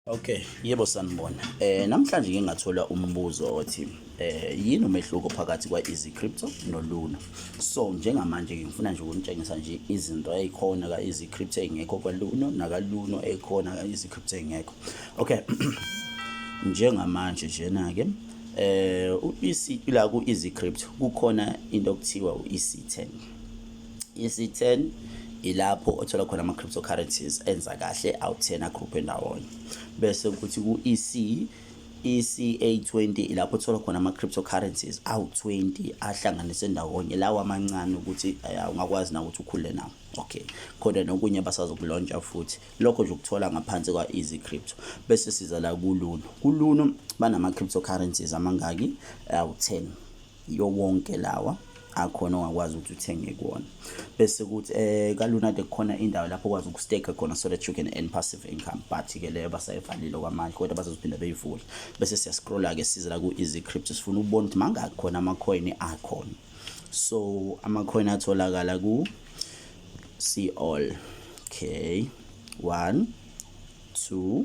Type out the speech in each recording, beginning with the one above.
Okay, yebo sanibona. Eh namhlanje ngike ngathola umbuzo othi eh yini umehluko phakathi kwa Easy Crypto no Luna. So njengamanje ngifuna nje ukunitshengisa nje izinto ezikhona ka Easy Crypto engekho kwa Luna naka Luna ekhona ka Easy Crypto engekho. Okay. Njengamanje jena ke eh u EC la ku Easy Crypto kukhona into okuthiwa u EC10. isi-10 ilapho othola khona ama-cryptocurrencies enza kahle awu-10 agroupe ndawonye bese kuthi ku-ec ECA20 ilapho uthola khona ama-cryptocurrencies awu-20 ahlanganise ndawonye lawa amancane ukuthi eh, ungakwazi na ukuthi ukhule nawo okay khona nokunye basazokulontsha futhi lokho nje ukuthola ngaphansi kwa-easy crypto bese siza la kuluno kuluno banama-cryptocurrencies amangaki awu-10 yo wonke lawa akhona ongakwazi ukuthi uthenge kuwona bese kuthi eh kalunade kukhona indawo lapho okwazi ukustake khona so that you can earn passive income but ke leyo basayivalile kwamanje kodwa bazoziphinda beyivule bese siya scrolla ke size la ku easy crypto sifuna ukubona ukuthi mangakhi khona ama coin akhona so ama coin atholakala ku see all okay 1 2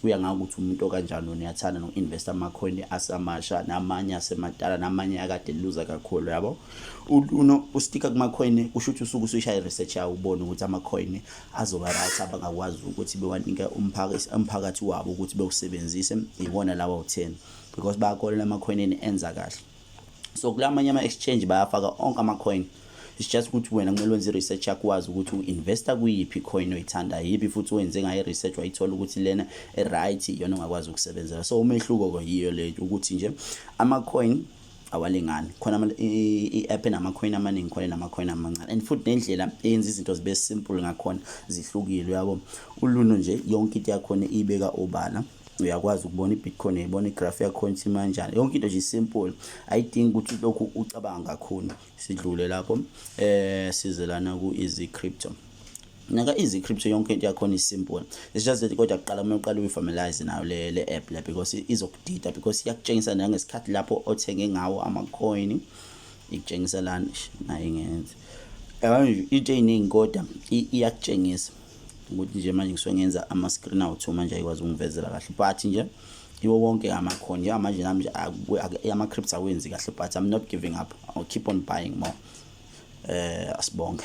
kuya ngayo ukuthi umuntu okanjani wena uyathanda noku-investa amacoin asamasha namanye asemadala namanye akade luza kakhulu yabo uno ustika kumacoin kusho ukuthi usuke usuyisha i-research yawo ubone ukuthi amacoin azoba right abangakwazi ukuthi bewanike umphakathi wabo ukuthi bewusebenzise iwona lawa u-ten because bayakolelwa emakhoneni enza kahle so kula manye ama-exchange bayafaka onke ama-coin it's just ukuthi wena kumele wenze i-research yakho wazi ukuthi u-investa kuyiphi coin oyithanda yiphi futhi wenze ngayo i-research wayithola ukuthi lena e-right iyona ongakwazi ukusebenzela so umehluko-ko yiyo le ukuthi nje ama-coin awalingani khona i-app enamacoin amaningi khona enamacoin amancane and futhi nendlela eyenza izinto zibe simple ngakhona zihlukile uyabo uluno nje yonke into yakhona iyibeka obala uyakwazi ukubona i-bitcoin uyayibona igraph yakhona ukuthi imanjani yonke into nje simple ayidingi ukuthi lokhu ucabanga kakhulu sidlule lapho um eh, sizelana ku-easy crypto naka easy crypto yonke into yakhona isimple it's just that kodwa kuqala uma uqala uyifamilize nayo le le app la because izokudida because iyakutshengisa nangesikhathi lapho othenge ngawo ama-coin ikutshengisa lana nayo ingenza yabona into ey'ningi kodwa iyakutshengisa ukuthi nje manje ngisuke ngenza ama-screen out manje ayikwazi ukungivezela kahle but nje iwo wonke amakhono njengamanje nami nje ama-crips awenzi kahle but i'm not giving up i'll keep on buying more um asibonge